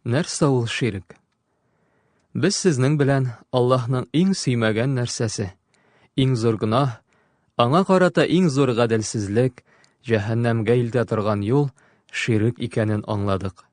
Нәрсә ул ширк? Без сезнең белән Аллаһның иң сөймәгән нәрсәсе, иң зур гөнаһ, аңа карата иң зур гаделсезлек, җәһәннәмгә илтә торган юл ширк икәнен аңладык.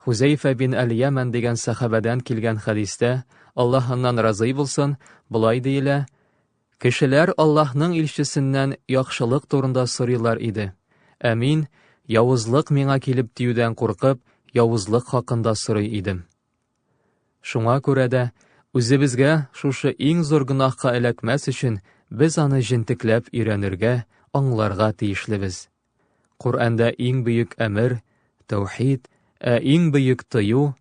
Хузәйфә бин Әл-Яман дигән сәхабәдән килгән хәдистә, Аллаһ аннан разый булсын, болай диелә, Кешеләр Аллаһның илчесеннән яхшылык турында сорыйлар иде, ә мин, явызлык миңа килеп тиюдән куркып, явызлык хакында сорый идем. Шуңа күрә дә, үзебезгә шушы иң зур гөнаһка эләкмәс өчен, без аны җентекләп өйрәнергә, аңларга тиешлебез. Коръәндә иң бөек әмер, тәүхид, ә иң бөек тыю,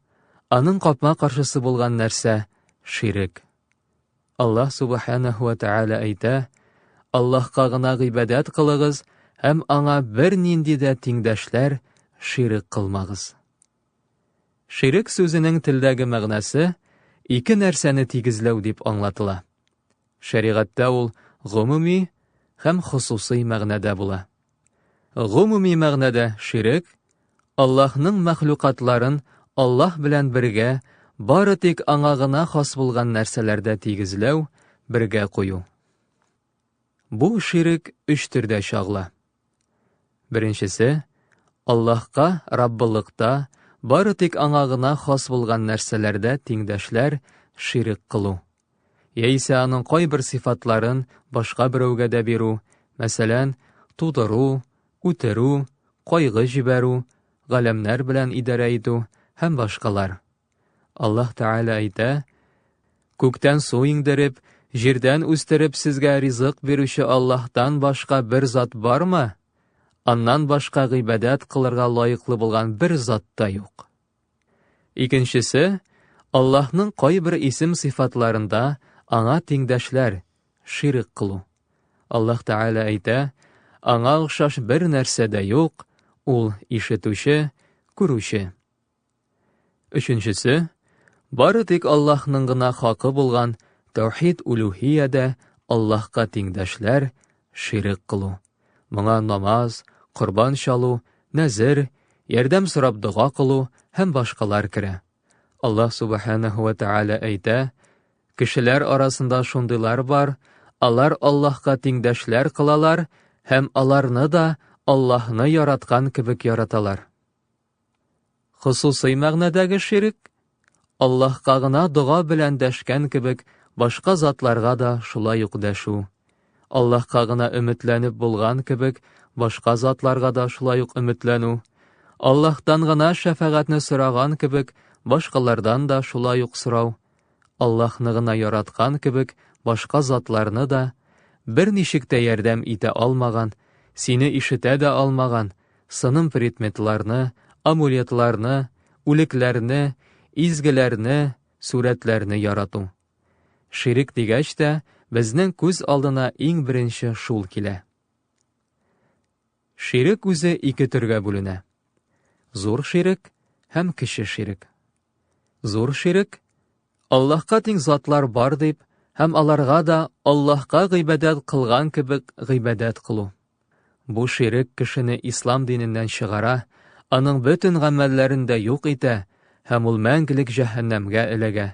аның капма-каршысы булган нәрсә, ширек. Аллаһ Субханәһү вә Тәгалә әйтә, Аллаһка гына гыйбадәт кылыгыз һәм аңа бернинди дә тиңдәшләр, ширек кылмагыз. Ширек сүзенең телдәге мәгънәсе ике нәрсәне тигезләү дип аңлатыла. Шәригатьтә ул гомуми һәм хосусый мәгънәдә була. Гомуми мәгънәдә ширек, Аллаһның мәхлукатларын Аллаһ белән бергә бары тик аңа гына хас булган нәрсәләрдә тигезләү, бергә кую. Бу ширек өч төрдә чагыла. Беренчесе, Аллаһка Раббылыкта бары тик аңа гына хас булган нәрсәләрдә тиңдәшләр, ширек кылу. Яисә аның кайбер сыйфатларын башка берәүгә дә бирү, мәсәлән, тудыру, үтерү, кайгы җибәрү, галәмнәр белән идарә итү һәм башкалар. Аллаһ Тәгалә әйтә, Күктән су иңдереп, җирдән үстереп сезгә ризык бирүче Аллаһтан башка бер зат бармы? Аннан башка гыйбадәт кылырга лаеклы булган бер зат та юк. Икенчесе, Аллаһның кайбер исем-сыйфатларында аңа тиңдәшләр, ширк кылу. Аллаһ Тәгалә әйтә, аңа охшаш бер нәрсә дә юк, ул ишетүче, күрүче. Өченчесе, бары тик Аллаһның гына хакы булган тәүхид улюһиядә Аллаһка тиңдәшләр, ширк кылу. Моңа намаз, корбан чалу, нәзер, ярдәм сорап дога кылу һәм башкалар керә. Аллаһ Субханаһу ва Тааля әйтә, Кешеләр арасында шундыйлар бар, алар Аллаһка тиңдәшләр кылалар һәм аларны да Аллаһны яраткан кебек яраталар. Хосусый мәгънәдәге ширек, Аллаһка гына дога белән дәшкән кебек, башка затларга да шулай ук дәшү. Аллаһка гына өметләнеп булган кебек, башка затларга да шулай ук өметләнү. Аллаһтан гына шәфәгатьне сораган кебек, башкалардан да шулай ук сорау. Аллаһны гына яраткан кебек, башка затларны да. Берничек тә ярдәм итә алмаган, сине ишетә дә алмаган, сыным предметларны, амулетларны, үлекләрне, изгеләрне, сурәтләрне ярату. Ширек дигәч тә, безнең күз алдына иң беренче шул килә. Ширек үзе ике төргә бүленә. Зур ширек һәм кече ширек. Зур ширек, Аллаһка тиң затлар бар дип, һәм аларга да Аллаһка гыйбадәт кылган кебек гыйбадәт кылу. Бу ширек кешене ислам диненнән чыгара, аның бөтен гамәлләрен дә юк итә һәм ул мәңгелек җәһәннәмгә эләгә.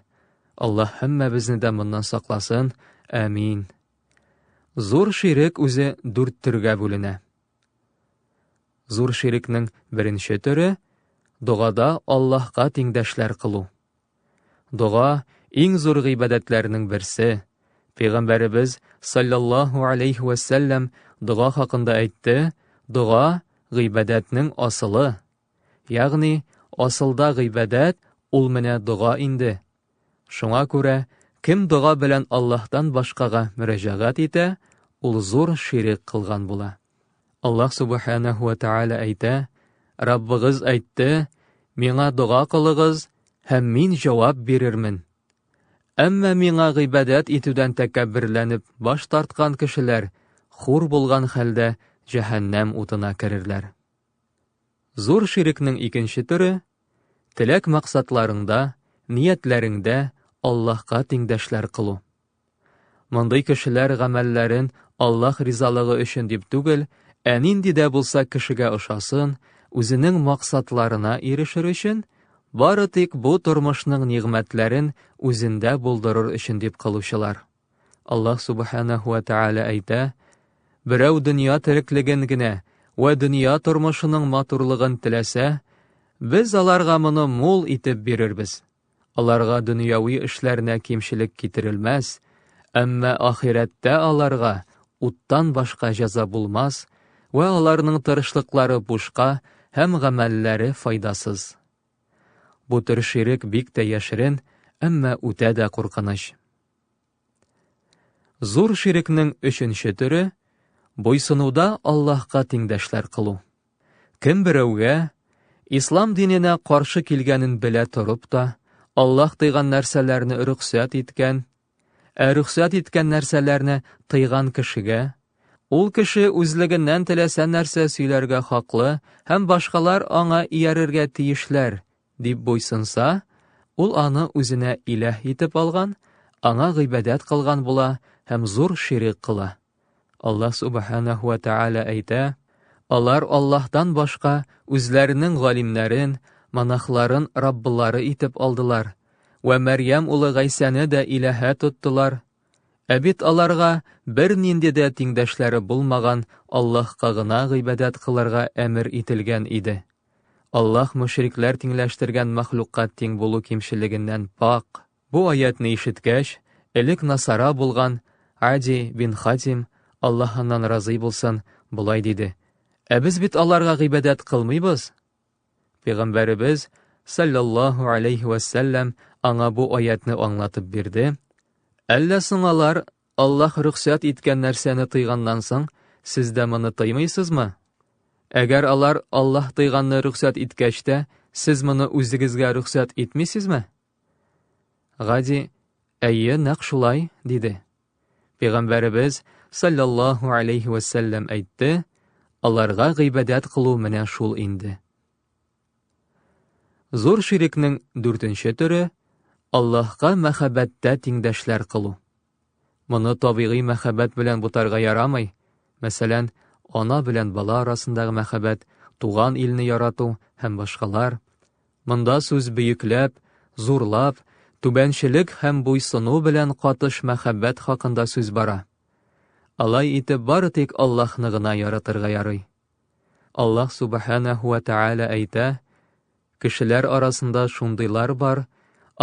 Аллаһ һәммәбезне дә моннан сакласын. Әмин. Зур ширек үзе дүрт төргә бүленә. Зур ширекнең беренче төре, догада Аллаһка тиңдәшләр кылу. Дога, иң зур гыйбадәтләрнең берсе. Пәйгамбәребез, саллаллаһу алейхи вәсәлләм, дога хакында әйтте, дога, гыйбадәтнең асылы. Ягъни, асылда гыйбадәт ул менә дога инде. Шуңа күрә, кем дога белән Аллаһтан башкага мөрәҗәгать итә, ул зур ширек кылган була. Аллаһ Субханәһу вә Тәгалә әйтә, Раббыгыз әйтте, Миңа дога кылыгыз, һәм мин җавап бирермен. Әмма миңа гыйбадәт итүдән тәкәбберләнеп баш тарткан кешеләр хур булган хәлдә җәһәннәм утына керерләр. Зур ширекнең икенче төре, теләк-максатларыңда, ниятләреңдә Аллаһка тиңдәшләр кылу. Мондый кешеләр гамәлләрен Аллаһ ризалыгы өчен дип түгел, ә нинди дә булса кешегә ошасын, үзенең максатларына ирешер өчен, бары тик бу тормышның нигъмәтләрен үзендә булдырыр өчен дип кылучылар. Аллаһ Субханәһу вә Тәгалә әйтә, Берәү дөнья тереклеген генә вә дөнья тормышының матурлыгын теләсә, без аларга моны мул итеп бирербез. Аларга дөньяви эшләренә кимчелек китерелмәс, әмма ахирәттә аларга уттан башка җәза булмас вә аларның тырышлыклары бушка һәм гамәлләре файдасыз. Бу төр ширек бик тә яшерен, әмма үтә дә куркыныч. Зур ширекнең өченче төре, буйсынуда Аллаһка тиңдәшләр кылу. Кем берәүгә, ислам диненә каршы килгәнен белә торып та, Аллаһ тыйган нәрсәләрне рөхсәт иткән, ә рөхсәт иткән нәрсәләрне тыйган кешегә, ул кеше үзлегеннән теләсә нәрсә сөйләргә хаклы һәм башкалар аңа иярергә тиешләр, Дип буйсынса, ул аны үзенә иләһ итеп алган, аңа гыйбадәт кылган була һәм зур ширек кыла. Аллаһ субханаһу ва тааля әйтә, алар Аллаһтан башка үзләренең галимнәрен, монахларын раббылары итеп алдылар вә Мәрьям улы Гайсәне дә иләһә тоттылар. Ә бит аларга бернинди дә тиңдәшләре булмаган Аллаһка гына гыйбадәт кылырга әмер ителгән иде. Аллаһ мөшрикләр тиңләштергән мәхлукка тиң булу кимчелегеннән пакь. Бу аятьне ишеткәч, элек насара булган Ади бин Хатим, Аллаһ аннан разый булсын, болай диде, Ә без бит аларга гыйбадәт кылмыйбыз! Пәйгамбәребез, салләллаһу галәйһи вәссәлләм, аңа бу аятьне аңлатып бирде, Әллә соң алар Аллаһ рөхсәт иткән нәрсәне тыйганнан соң, сез дә моны тыймыйсызмы? Әгәр алар Аллаһ тыйганны рөхсәт иткәч тә, сез моны үзегезгә рөхсәт итмисезме? Гади, әйе, нәкъ шулай, диде. Пәйгамбәребез, саллаллаһу алейхи вәсәлләм, әйтте, аларга гыйбадәт кылу менә шул инде. Зур ширекнең дүртенче төре Аллаһка мәхәббәттә тиңдәшләр кылу. Моны табигый мәхәббәт белән бутарга ярамый. Мәсәлән, ана белән бала арасындагы мәхәббәт, туган илне ярату һәм башкалар. Монда сүз бөекләп, зурлап, түбәнчелек һәм буйсыну белән катыш мәхәббәт хакында сүз бара. Алай итеп бары тик Аллаһны гына яратырга ярый. Аллаһ Субханәһу вә Тәгалә әйтә, Кешеләр арасында шундыйлар бар,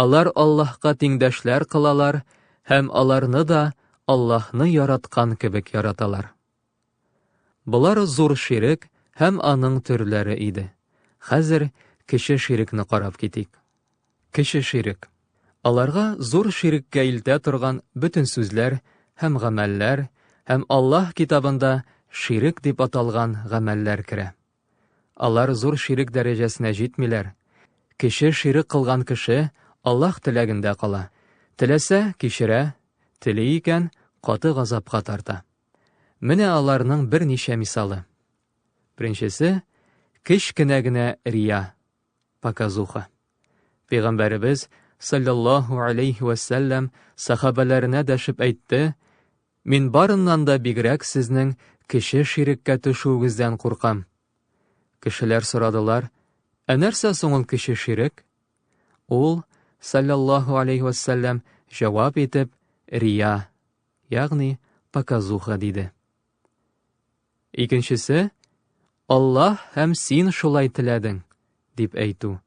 алар Аллаһка тиңдәшләр кылалар һәм аларны да Аллаһны яраткан кебек яраталар. Болар зур ширек һәм аның төрләре иде. Хәзер кече ширекне карап китик. Кече ширек. Аларга зур ширеккә илтә торган бөтен сүзләр һәм гамәлләр һәм Аллаһ Китабында ширек дип аталган гамәлләр керә. Алар зур ширек дәрәҗәсенә җитмиләр. Кече ширек кылган кеше Аллаһ теләгендә кала, теләсә, кичерә, тели икән, каты газапка тарта. Менә аларның берничә мисалы. Беренчесе, кечкенә генә рия. Показуха. Пәйгамбәребез, саллаллаһу алейхи вә сәлләм, сахабәләренә дәшеп әйтте, Мин барыннан да бигрәк сезнең кеше ширеккә төшүегездән куркам. Кешеләр сорадылар, Ә нәрсә соң ул кеше ширек? Ул, саллаллаһу алейхи вә сәлләм, җавап итеп, Рия, ягъни показуха диде. Икенчесе, Аллаһ һәм син шулай теләдең, дип әйтү.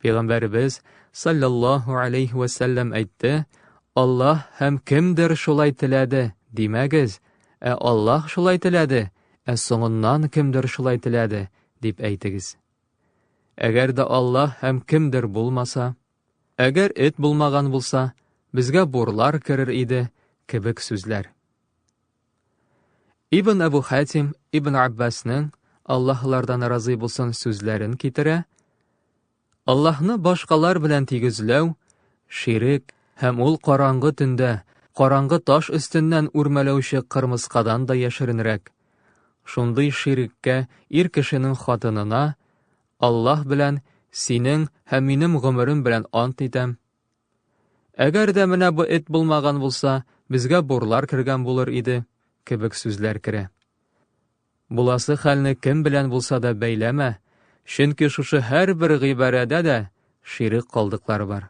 Пәйгамбәребез саллаллаһу алейхи вә сәлләм әйтте, Аллаһ һәм кемдер шулай теләде, димәгез, ә Аллаһ шулай теләде, ә соңыннан кемдер шулай теләде, дип әйтегез. Әгәр дә Аллаһ һәм кемдер булмаса, әгәр эт булмаган булса, безгә бурлар керер иде, кебек сүзләр. Ибн Әбу Хәтим Ибн Аббасның Аллаһлардан разый булсын сүзләрен китерә. Аллаһны башкалар белән тигезләү, ширек һәм ул караңгы төндә, караңгы таш өстеннән үрмәләүче кырмыскадан да яшеренрәк. Шундый ширеккә ир кешенең хатынына Аллаһ белән синең һәм минем гомерем белән ант итәм, Әгәр дә менә бу эт булмаган булса, безгә бурлар кергән булыр иде, кебек сүзләр керә. Буласы хәлне кем белән булса да бәйләмә, чөнки шушы һәрбер гыйбарәдә дә ширек калдыклар бар.